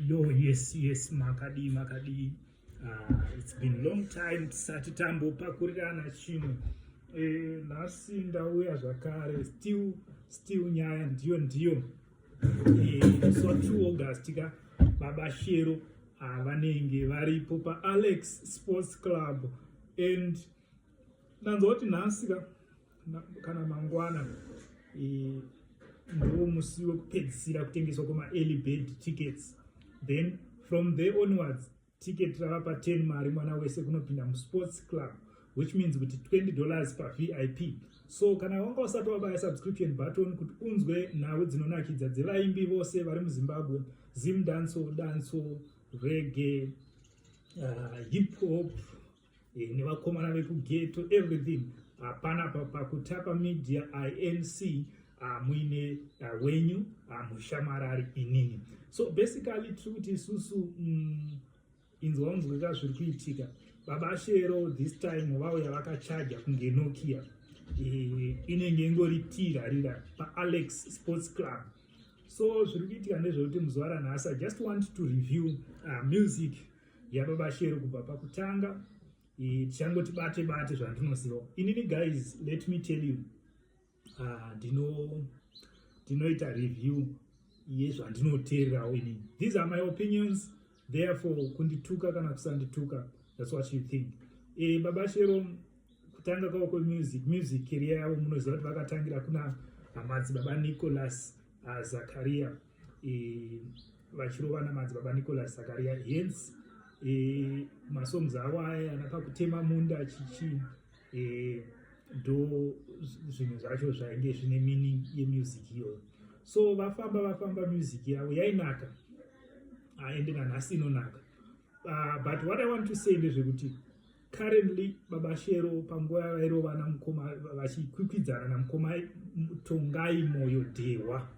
Yo, yes, yes, makadii, makadii. Uh, it's been long time tisati tambopakurirana chinhu. Eh, nhasi ndauya zvakare still still nyaya ndiyo ndiyo. Eh, so 2 August ka baba Shero ah, vanenge varipo pa Alex Sports Club and nanzwa kuti nhasi ka kana mangwana eh, ndiwo musi wekupedzisira kutengeswa kwemaearly bed tickets then from there onwards ticket rava pa 10 mari mwana wese kunopinda musports club which means kuti 20 dollars pavip so kana wanga usati wabaya subscription button kuti unzwe nhau dzinonakidza dzevaimbi vose vari muzimbabwe zim danso danso rege uh, hip hop e, nevakomana vekugeto everything hapana ah, pakutapa media inc ah, muine ah, wenyu mushamarari inini so basically tiri kuti isusu mm, inzwa unzwika zviri kuitika baba shero this time vauya vakachaja kunge nokia e, inenge ingori tirarira paalex sports club so zviri kuitika ndezvekuti muzuva ranhasi i just want to review uh, music yababa shero kubva pakutanga tichangoti bate bate zvandinoziva inini guys let me tell you ah, ndinoita review yezvandinoteererawo inini these are my opinions therefore kundituka kana kusandituka thats what you think e, baba shero kutanga kwavo kwemusic music career yavo munoziva kuti vakatangira kuna hamadzi baba nicholas ah, zakaria vachirovana madzi baba nicolas zakaria hence e, masongs avo aya anapa kutema munda chichi e, ndo zvinhu zvacho zvainge zvine meaning yemusic iyoyo so vafamba vafamba music yavo yainaka aende nanhasi inonaka uh, but what i want to say ndezvekuti currently baba shero panguva yavairova namukoma vachikwikwidzana namukoma tongai moyo dhehwa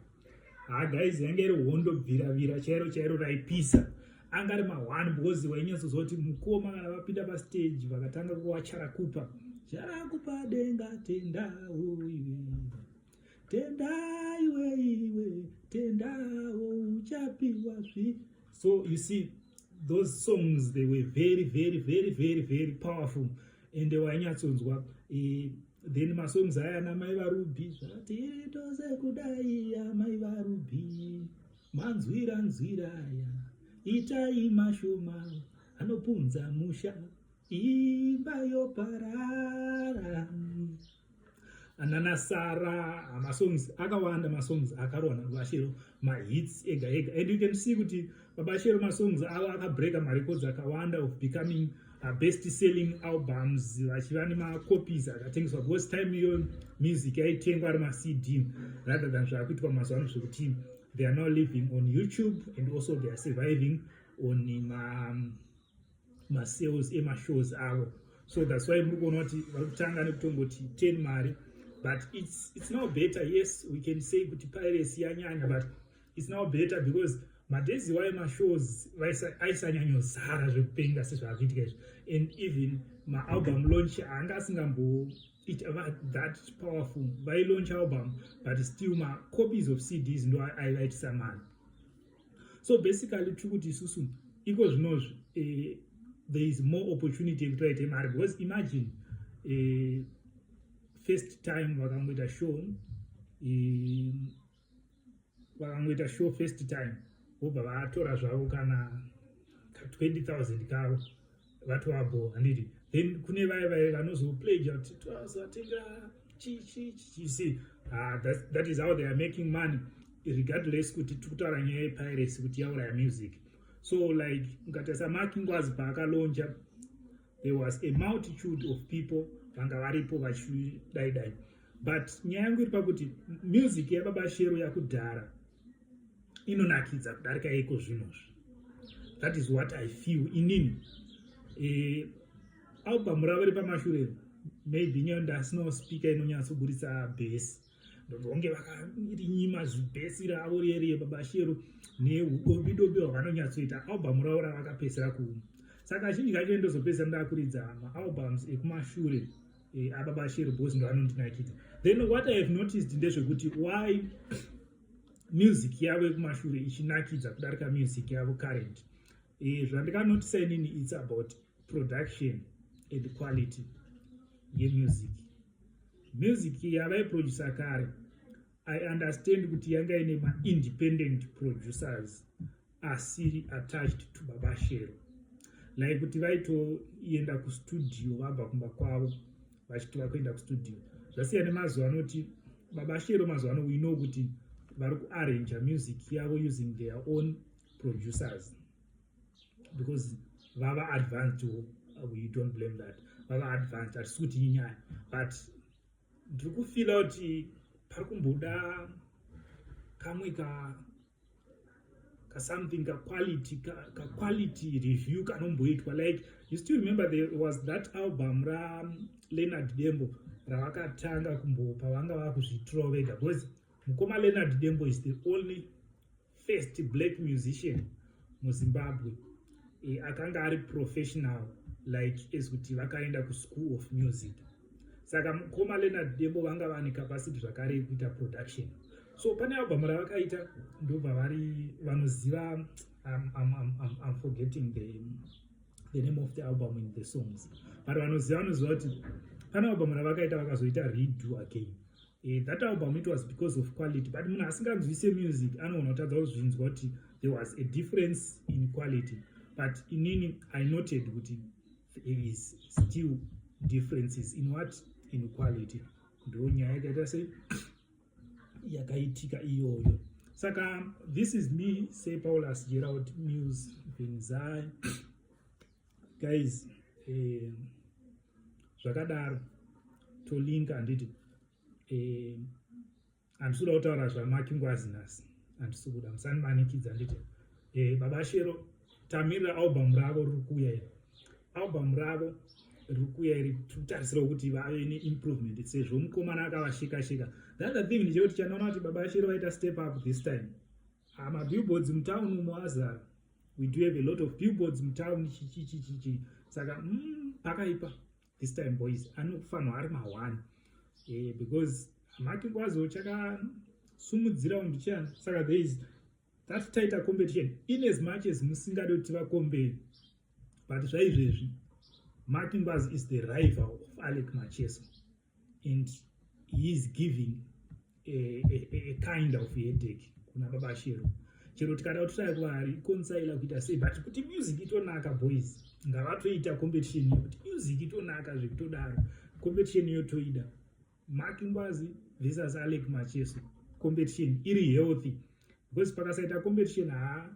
ha guys yange iri hondo bviravira chairo chairo raipisa anga ari mahwani because wainyatsozoti mukoma kana vapinda pastage vakatanga kuwacharakupa charakupa denga tendauiwe tendai weiwe tendawo uchapiwa zvi so you see those songs they were very very very very very powerful ende wainyatsonzwa eh, then masongs aya ana mai varubi zvati iri tose kudai amai varubi manzwira nzwira aya itai mashoma anopunza musha imba yoparara anana sara masongs akawanda masongs akarwa nabashero mahits ega ega and you can see kuti babashero masongs avo akabreaka marecords akawanda of becoming uh, best selling albums vachiva nemacopies akatengeswa because time iyo music yaitengwa ari macd rather than zvaakuitwa mazuva ano zvekuti they are now living on youtube and also they are surviving on ma um, masales emashows avo so thats why muri kuona kuti vari kutanga nekutongoti ten mari but its, its now better yes we can say kuti piracy yanyanya but its now better because madays iwayo mashows aisanyanyozara zvekupenga sezvaakuitika izvi and even maalbum launch anga asingamboita that powerful vailaunch album but still macopies of cds ndo aivaitisa mari so basically tiri kuti isusu iko zvinozvi eh, there is more opportunity yekuti vaite mari because imagine eh, first time vakangoita show eh, vakangoita show first time vobva vatora zvavo kana ka 20 000 kavo vati wabho handiti then kune vaye vaye vanozopledge kuti twazotenga chichichichisi ah, that is how they are making money regardless kuti tiri kutaura nyaya yepiracy kuti yauraya music so like mukatasa mark ngwazi paakalonja there was a multitude of people vanga varipo vachidaidai but nyaya yangu iri pakuti music yababa shero yakudhara inonakidza kudarika iko zvinozvi that is what i feel inini eh, album ravo repamashure maybe nyayo ndasino speaker inonyatsoburitsa bhesi ndonge vakarinyima zibhesi ravo rieriye babashero neudobidobi hwavanonyatsoita album ravo ravakapesera kumu saka zhinji kacho ndozopesera ndakuridza maalbums ekumashure Eh, aba bashiri bos ndo anondinakidza then what i have noticed ndezvekuti why music yavo yekumashure ichinakidza kudarika music yavo current eh, zvandikanotisa inini its about production and quality yemusic music yavaiproducer kare i understand kuti yanga ine maindependent producers asiri attached to baba shero like kuti vaitoenda kustudio vabva kumba kwavo vachiti vakuenda kustudio zvasiyana nemazuva anoti baba shero mazuva ano we know kuti vari kuarranja music yavo using their own producers because vava advanced we don't blame that vava advanced hatisi kuti inyaya but ndiri kufila kuti pari kumboda kamwe ka kasomething kaquality kaquality ka review kanomboitwa like you still remember there was that album raleonard dembo ravakatanga kumbopa vanga vakuzvitirawo vega because mukoma leonard dembo is the only first black musician muzimbabwe e, akanga ari professional like as kuti vakaenda kuschool of music saka mukoma leonard dembo vanga vane capacity zvakare yekuita production so pane album ravakaita ndobva vari vanoziva I'm, I'm, I'm, I'm forgetting the, the name of the album in the songs but vanoziva vanoziva kuti pane album ravakaita vakazoita redo again Eh, that album it was because of quality but munhu asinganzwise music anogona kutadza kuzvinzwa kuti there was a difference in quality but inini i noted kuti there is still differences in what in quality ndo nyaya yakaita sei yakaitika iyoyo saka this is me say paulus gerald news venzai guys eh, zvakadaro tolinka handiti eh, handisi kuda kutaura zvamaki ngwazi nhasi handisi kuda musandimanikidza handiti eh, baba shero tamirira album ravo riri kuuya iri album ravo riri kuuya iri tikutarisirawo kuti vave neimprovement sezvo mukomana akavashikashika the other thing ndichekuti chanoona kuti baba shero vaita step up this time ah, mabillboards mutown umo azara we do have a lot of billboards mutown chichichichichi saka mm, pakaipa this time boys anofanirwa ari mahwani eh, because hamake kwazo chakasumudzirawo ndichani saka there is that tighter competition in as much as musingade kuti vakombee but zvaizvezvi markingwas is the rival of alec macheso and he is giving a, a, a kind of headache kuna baba shero chero tikada kutotaya kwaari ikonsaila kuita sei but kuti music itonaka boys ngavatoita competition iyo kuti music itonaka zvekutodaro competition iyo toida mark ngwazi visas alec macheso competition iri healthy because pakasaita competition haa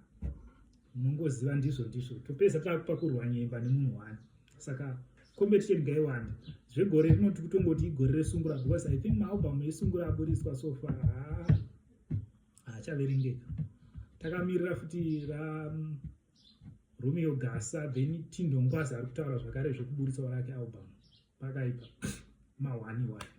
munongoziva ndizvo ndizvo topedza takupakurwa nyemba nemunhu wani saka competition ngaiwanda zvegore rino tiri kutongoti igore resungura because i think maalbum esungura aburitswa so far haa haachaverengeka takamirira futi ra romeo gasa then tindongwazi ari kutaura zvakare zvekuburitsawo rake album pakaipa mawani wani